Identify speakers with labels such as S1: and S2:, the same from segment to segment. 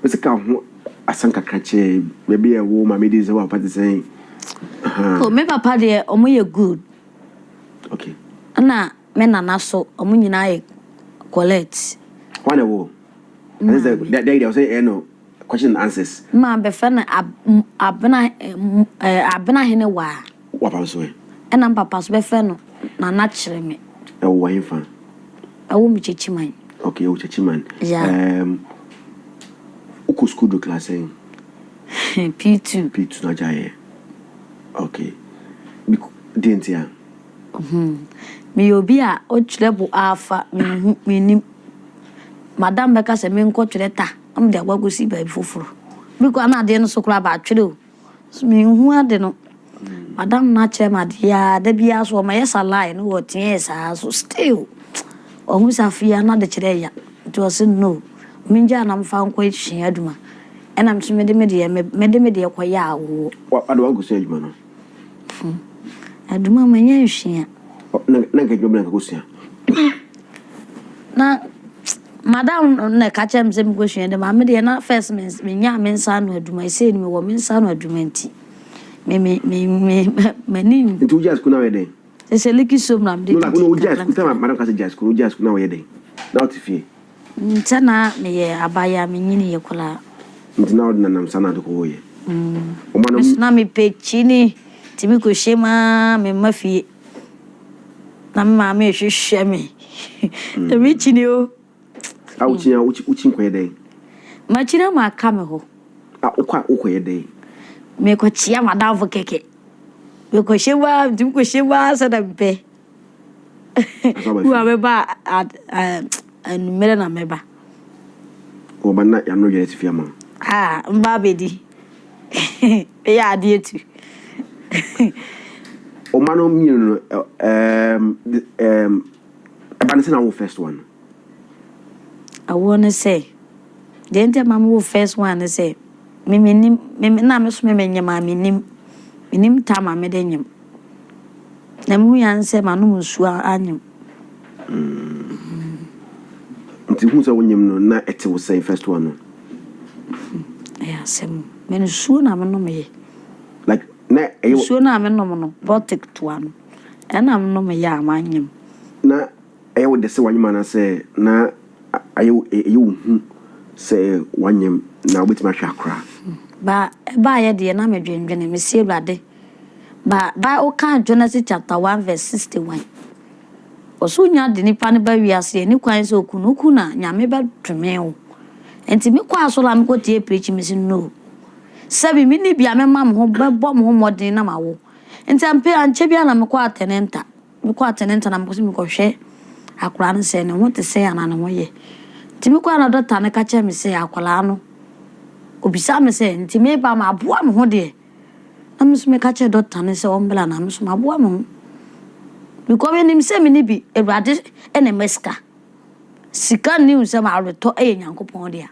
S1: Mese ka ho asem kakra kyɛɛ baabi a ɛwo maame din sɛ wo papa te sɛn ahaa. Oh me papa deɛ
S2: ɔmo yɛ good.
S1: Okay. Ɛna
S2: me nana so ɔmo nyinaa yɛ Colette. Hwan na ɛwo?
S1: Ɛne sɛ dɛ dɛ deɛ ɔsɛ ɛyɛ no question and answers. Maa bɛfɛ no ab
S2: m abena eh m eh abena hene waa. W'apa nso ɛ?
S1: Ɛna m'papa nso bɛfrɛ
S2: no Nana Kyereme. Ɛwɔ wɔ henfa?
S1: Ɛwɔ me
S2: Kyekyiman. Ok, ɛwɔ Kyekyiman.
S1: Yeah. Ɛɛm, wokɔ sukuu do class sɛn?
S2: P2. P2 na
S1: agyaeɛ. Ok. Bik, deɛ nti a? Hmm,
S2: meyɛ obi a ɔtwerɛ bo aafa, menhu, mennim. Madam bɛka sɛ menkɔ twerɛ ta, na mede akɔ akɔsi baabi foforɔ. Biko, ana adeɛ no so koraa, bɛatwerɛ o. So menhu ade no madam no akyɛ me ade yi ara da biara so ɔma yɛ salai no wɔ teɛɛ saa so still ɔhu sɛ afei a na de kyerɛ ya nti ɔse no mengyaa na mfa nkɔ sua adwuma ɛna me so mede me deɛ mede me deɛ kɔyɛ awoɔ. Wa ade wankɔ sua adwuma
S1: no? Adwuma
S2: manya nsua. Na nka
S1: adwuma bɛn na nka kɔ sua? Na
S2: madam no na ɛka kyerɛɛ me sɛ menkɔsua de ma me deɛ na first menyaa me nsa ano adwuma ɛsei no mewɔ me nsa ano adwuma nti m'ani nti wogyaa sukuu no ayɛ dɛn
S1: ɛsɛ liki so mra
S2: mede didi wogyaa sukuu sɛ madam ka
S1: sɛ gyaa sukuu no wogyaa sukuu no ayɛ dɛn na wote fie sɛ na
S2: meyɛ abayɛ a menyini yɛ koraa nti na wode
S1: nanam saa na ade kɔɔ yɛ mm.
S2: na mepɛ kyini nti mekɔhyɛ mu a memma fie na me maame rehwehwɛ me mekyini o a wokyini a
S1: wokyi nkɔyɛ dɛn makyini ama
S2: aka me hɔ a wokɔ a wokɔyɛ
S1: dɛn mekɔkyea
S2: madamfo kɛkɛ mekɔhyɛ mu a ntumi kɔhyɛ mu a sɛ dɛ mpɛ wo a mɛba anummerɛ na mɛba
S1: Wɔ ba na yano yɛrɛ tifi ama. Ah mma abɛdi
S2: ɛyɛ adeɛ tu.
S1: Oma no mmienu no um, um, ɛba no sɛ na wo first one no.
S2: Awoɔ no sɛ deɛ nti ama me wo first one no sɛ me menim me na me so me menyem a menim menim tam a mede nyem na mehu yan sɛ manom nsuo anyem.
S1: Nti hu sɛ wonyem no na ɛte wo sɛn first one no.
S2: Ɛyɛ asɛm o. Me nsuo na menom ye. Like
S1: na ɛyɛ. Nsuo na menom no
S2: bɔtik toa no ɛna menom ye a manyem. Na
S1: ɛyɛ wo dɛ sɛ wanyem anaasɛ na ayɛ ɛyɛ wo hu sɛ wanyem na wobɛtumi ahwɛ akora. Ba ɛbaayɛ
S2: deɛ na medwendwene mese Awurade. Ba Bible kã Genesis chapter one verse sixty one. Ɔsor nya dze nyimpa no ba wiase yɛ ne kwan sɛ okun no kun a Nyame bɛdome wo. Ntsi me kɔ asɔr a mokɔ tsie preaching mese no. Sɛ me menni bi a mɛma mo ho bɛbɔ mo ho mbɔdzen na ma wo. Ntsi ampe ankyɛ biara na mokɔ Atenenta. Me kɔ Atenenta na mokɔ sɛ mekɔ hwɛ akora no sɛ ne ho te sɛn ana ne ho yɛ. Ntsi me kɔ na dɔkta no ka kyerɛ me sɛ akɔraa no obisa me sɛ ntsi me ba ma aboa mo ho deɛ. na me nso meka kyerɛɛ dɔkta no sɛ ɔmbra na me nso maboa me ho because menim sɛ me ne bi Awurade na ɛma sika. Sika nni nsɛm a ɔretɔ yɛ Nyankopɔn dea.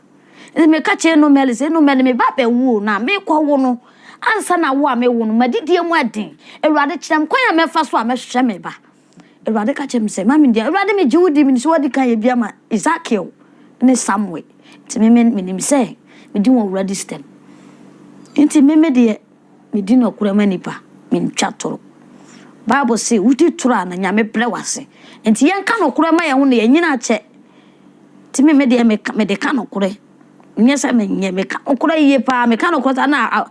S2: Nti meka kyerɛɛ Nomɛli sɛ Nomɛli me ba bɛwo o na mekɔwo no ansa na wo a mewo no m'adidie mu ɛden. Awurade kyerɛ me kwan a mɛfa so a mɛhwɛ me ba. Awurade ka kyerɛɛ me sɛ, Mame deɛ, Awurade megye wo di, menim sɛ woadi kan yɛ bi ama Ezekiel ne Samuel, nti meme menim sɛ medi wɔn wura dis dɛm. Nti meme deɛ, medi nɔkorɛ ma nnipa, mentwa toro. Bible se, wodi toro a, na Nyame brɛ wo ase. Nti yɛnka nɔkorɛ ma yɛn ho na yɛanyini akyɛ. Nti meme deɛ, meka, mede ka nɔkorɛ. Nyɛ sɛ me nyɛ me ka nokora yie paa me ka nokora sɛ ana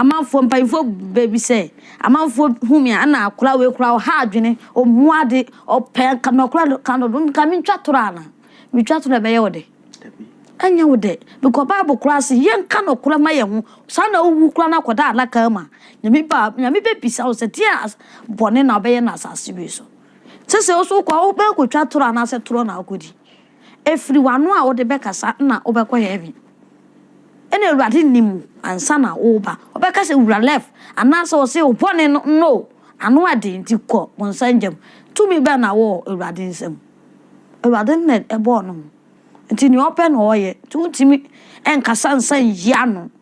S2: amanfoɔ mpanyinfoɔ baabi sɛ amanfoɔ hu me ana akora wei kora ɔha adwene ɔmu ade ɔpɛ nka nokora ka no nka me ntwa toro ana me twa toro ɛbɛyɛ wo dɛ ɛnyɛ wo dɛ bikɔ bible kora se yɛ nka nokora ma yɛ ho saa na wowu kora na akɔda alaka ma nyame ba nyame bɛbisa wo sɛ deɛ bɔne na ɔbɛyɛ na asase wei so sɛ sɛ wo so wokɔ wobɛkɔtwa toro anaasɛ toro na wokɔdi Ɛfiri w'ano a wode bɛkasa na wobɛkɔ heaven. Ɛna awurade nim ansa na woreba. Ɔbɛka sɛ wura left anaasɛ ɔse wo bɔne no no ano ɛden nti kɔ bonsa ngya mu. Tumi bɛn na wowɔ awurade nsam? Awurade no na ɛbɔɔ no ho nti nea ɔpɛ na ɔyɛ nti wontumi nkasa nsa nyi ano.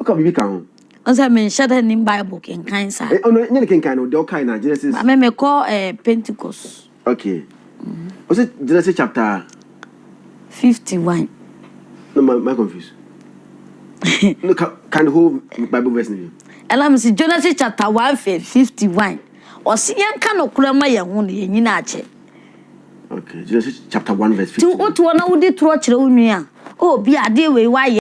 S1: Ɔka biribi ka ho. Ɔsɛ menhyɛ da
S2: nim Bible kenkan saa. Eh, ɔno nyɛ ne kenkan no, deɛ
S1: ɔkae na Genesis. Ba me mekɔ eh,
S2: Pentecost. Okay.
S1: Ɔsɛ Genesis chapter.
S2: 51.
S1: No, my, my confused. no, can, can the whole Bible verse name? Ɛna me si Genesis
S2: chapter 1 verse 51. Ɔsi yɛn ka no kura ma yɛn ho no yɛn nyina akyɛ. Okay, Genesis chapter 1 verse 51. Ti wotoɔ na wodi torɔ kyerɛ
S1: wo
S2: nua. Obi adeɛ
S1: wei
S2: wayɛ.